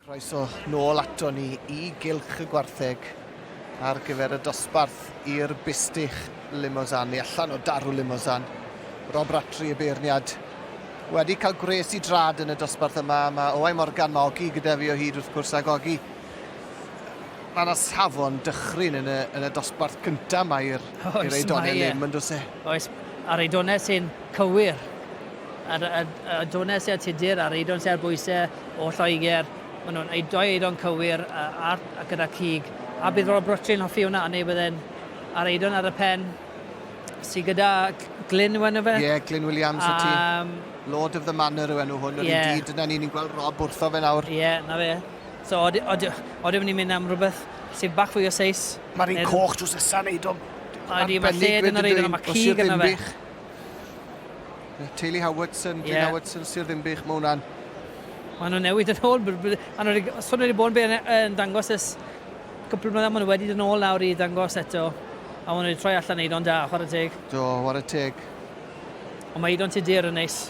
Croeso nôl ato ni i Gylch y Gwartheg ar gyfer y dosbarth i'r Bistych Limousin, neu allan o Daru Limousin. Rob Rattray y beirniad wedi cael gwres i drad yn y dosbarth yma. Mae Owain Morgan, mae Ogi gyda fi o hyd wrth gwrs, ac Ogi, mae yna safon dychryn yn y, yn y dosbarth cyntaf mae i'r Eidonau Lim, yn dweud e? Oes, a'r Eidonau sy'n cywir. Ar y adonen sy ar Tudur, a'r eidon sy ar bwyse o Lloegr, maen nhw'n ei doi eidon cywir ar a gyda cig. A bydd Rob Rwtri yn hoffi hwnna, neu bydden a'r eidon ar y pen sy gyda Glyn yw enw fe? Ie, yeah, Glyn Williams um, ti. Ehm, Lord of the Manor yw enw hwn, yr yeah. un dyna ni'n gweld Rob wrtho fe nawr. Ie, yeah, na fe. So, oedden ni'n mynd am rhywbeth sy'n bach fwy o seis. Mae'r un coch drws nesaf yn eidon. A di, mae lled yn yr eidon, mae cig yna fe. Teulu Howardson, Glyn yeah. Howardson, Sir Ddinbych, mae hwnna'n... Mae nhw'n newid yn ôl. A nhw'n sôn wedi bod yn dangos ys cwpl o mlynedd, maen nhw wedi dod yn ôl nawr i ddangos eto. A maen nhw wedi troi allan Eidon da, chwarae teg. Do, chwarae teg. Ond mae Eidon Tudur yn neis.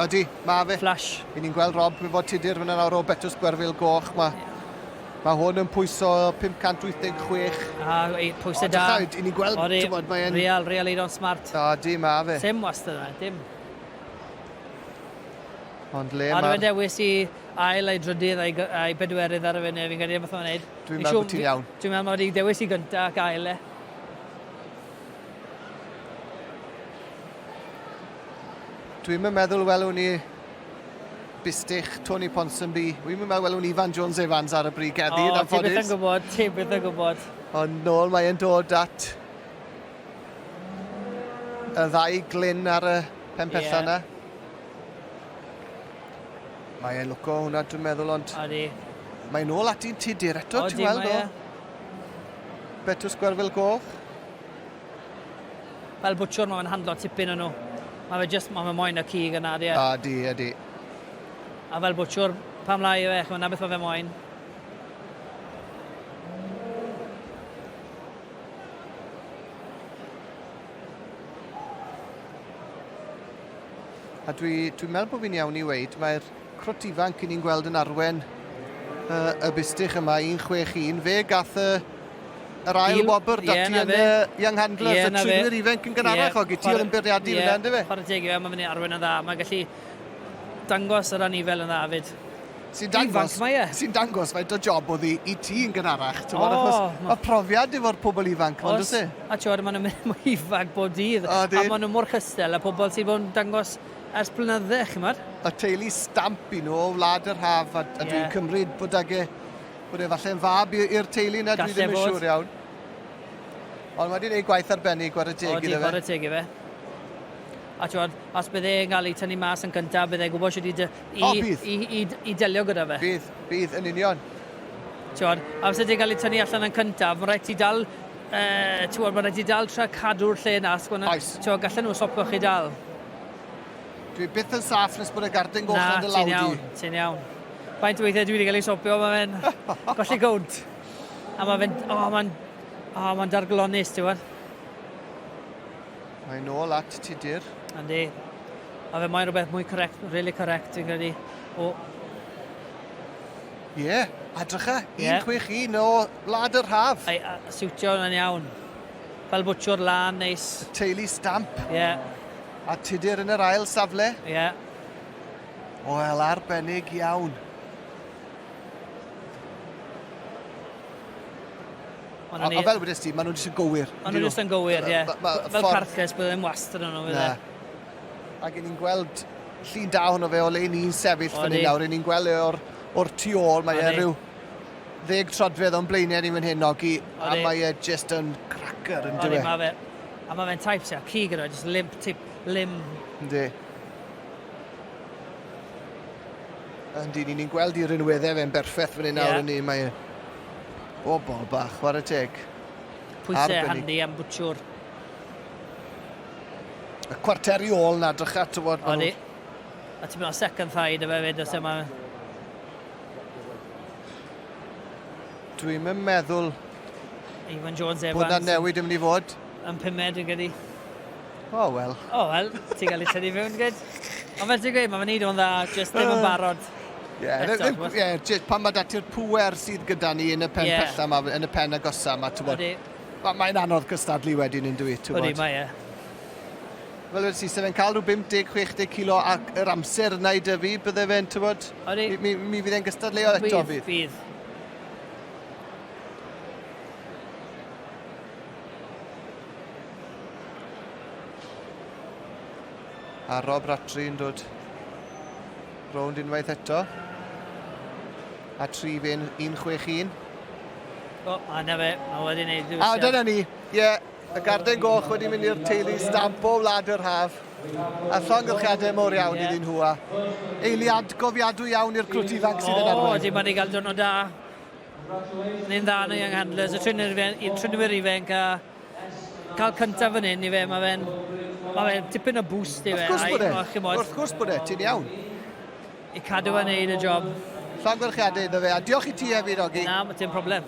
Ydy, mae fe. Flash. I ni'n gweld Rob, mae fod Tudur fyna nawr o Betws Gwerfil Goch. Mae yeah. Mae hwn yn pwyso 586. A, ei, pwysau da. O, i ni'n gweld, ti'n bod, mae'n... Real, real eiron smart. O, di, ma fe. Sim wastad yna, dim. Ond le mae'r... Ar y dewis i ail ei drydydd a'i, a'i bedwerydd ar y fyny, fi'n credu beth o'n wneud. Dwi'n meddwl bod ti'n iawn. Dwi'n meddwl mae wedi dewis i gyntaf ac ail e. Dwi'n meddwl welwn ni Bistych, Tony Ponsonby. Wi'n mynd meddwl welwn Ifan Jones Evans ar y brig heddi, yn anffodus. O, ti beth yn gwybod, ti beth yn gwybod. Ond nôl mae'n dod at y ddau glyn ar y pen pella yna. Yeah. Mae e'n lwco hwnna, dwi'n meddwl, ond... Odi. Mae'n nôl ati'n tudur eto, ti'n weld o? Betws Gwerfil Goch. Fel bwtsiwr mae fe'n handlo tipyn o nhw. Mae fe jyst, mae fe moyn y cig yna, ydy e? A, ydy, ydy. A fel bwtsiwr, pam lai yw e, chimod, na beth mae fe moyn. A dwi, dwi'n meddwl bod fi'n iawn i weud, mae'r Crot ifanc i ni'n gweld yn arwen y bustych yma, 1-6-1. Fe gath y yr ail wobr dati yn y Young Handlers, y trinwyr ifanc yn gynharach o gyti oedd yn byrdiadu fyna, ynddo fe? Chwarae teg i fe, mae fyny arwen yn dda, mae gallu dangos yr anifel yn dda fyd. Sy'n dangos, e. sy'n dangos faint o job oedd i ti yn gynharach, ti'n bod, achos mae profiad efo'r pobl ifanc, mae'n dweud e? A ti'n bod, maen nhw'n mynd mwy ifanc bob dydd, a maen nhw mor chystel, a pobl sy'n bod yn dangos Ers blynydde, ch'mod. Y teulu Stamp i nhw o Wlad yr Haf a, a dwi'n cymryd bod ag e, bod e falle'n fab i'r teulu yna, dwi ddim yn siŵr iawn. Ond wedi gwneud gwaith arbennig, gwara teg iddo fe. O, gwara teg i fe. A ti'n os bydd e'n cael ei tynnu mas yn gyntaf, bydd e'n gwybod sydd wedi i, o, i, i, i, i delio gyda fe. Bydd, bydd, yn union. Ti'n amser ti'n cael ei tynnu allan yn cyntaf, mae'n rhaid ti dal Yy, t'mod, ma' raid ti dal tra cadw'r lle 'na os gwna... Oes. ...t'mo' gallen nhw stopo chi dal. Dwi byth yn saff nes bod y gardyn goch ar dy law di. Na, ti'n iawn, ti'n iawn. Faint o weithiau dwi wedi cael ei stopio, ma' fe'n colli count. A ma' fe'n, o, ma'n, o, ma'n darglonus, ti'n gwbod? Mae'n ôl at Tudur. Yndi. A fe mae'n rhywbeth mwy correct, really correct, fi'n credu, o Ie, a drycha, 161 o Wlad yr Haf. Ai, a siwtio yna'n iawn. Fel bwtsiwr lan, neis. Y teulu stamp. Ie. A tudur yn yr ail safle. Ie. Wel, arbennig iawn. Ond A, ni... a fel wedys ti, maen nhw'n jyst yn gywir. Maen nhw'n jyst yn gywir, ie. Fel carcas, bydd ddim wastad yn nhw, bydd e? Ac yn ni'n gweld llun da hwnnw fe o le ni'n sefyll fan hyn nawr. Yn ni'n gweld e o'r, or tu ôl. Mae e rhyw ddeg trodfedd o'n blaenau ni fan hyn, Ogi. A mae e just yn cracker yn dywe. Mae fe, a mae fe'n type sy'n cig yna, just limp tip, lim. Yndi. Yndi, ni'n gweld i'r unweddau fe'n berffaith fan hyn nawr yn ni. Mae e bobl bach, chwarae teg. Pwysau handi am bwtwr. Y cwarteri ôl na, drycha, tywod. Odi. A ti'n mynd o second thigh dy fe fyd, os yma... Dwi'n mynd meddwl... Ivan Jones Evans. Bod na newid yn mynd i fod. Yn pumed, yn gydi. O, oh, wel. O, oh, wel, ti'n cael ei tynnu fewn, gyd. Ond fel ti'n gweud, mae'n mynd o'n dda, jyst ddim yn barod. Ie, yeah, yeah, pan mae dati'r pwer sydd gyda ni yn y pen yeah. pella yma, yn y pen agosa yma, ti'n bod. Mae, mae'n anodd cystadlu wedyn yn dwi, ti'n Ydy, mae e. Fel wedi ti, se fe'n cael rhyw 50, 60 kilo ac yr amser yna i dyfu, bydde fe'n, ti'n bod, mi, mi, mi fydd e'n gystadleuol eto fydd. Fydd, fydd. A Rob Ratri yn dod rownd unwaith eto. A tri fe'n 161. O, a na fe, mae wedi gwneud ddiwysio. A dyna ni, ie. Yeah. Y garden goch wedi mynd i'r teulu stamp o wlad yr haf. A llongyfchiadau mor iawn yeah. iddyn nhw a eiliad gofiadwy iawn i'r crwt ifanc sydd yn arwain. O, ydy, mae wedi cael dwrnod da. Ni'n dda nhw young handlers, y trinwyr ifanc a cael cyntaf fan hyn i fe, mae fe'n ma fe tipyn o boost i fe. Wrth gwrs bod e, wrth gwrs bod e, ti'n iawn. I cadw a neud y job. Llongyfarchiadau iddo fe, a diolch i ti hefyd, Ogi. Na, dim problem.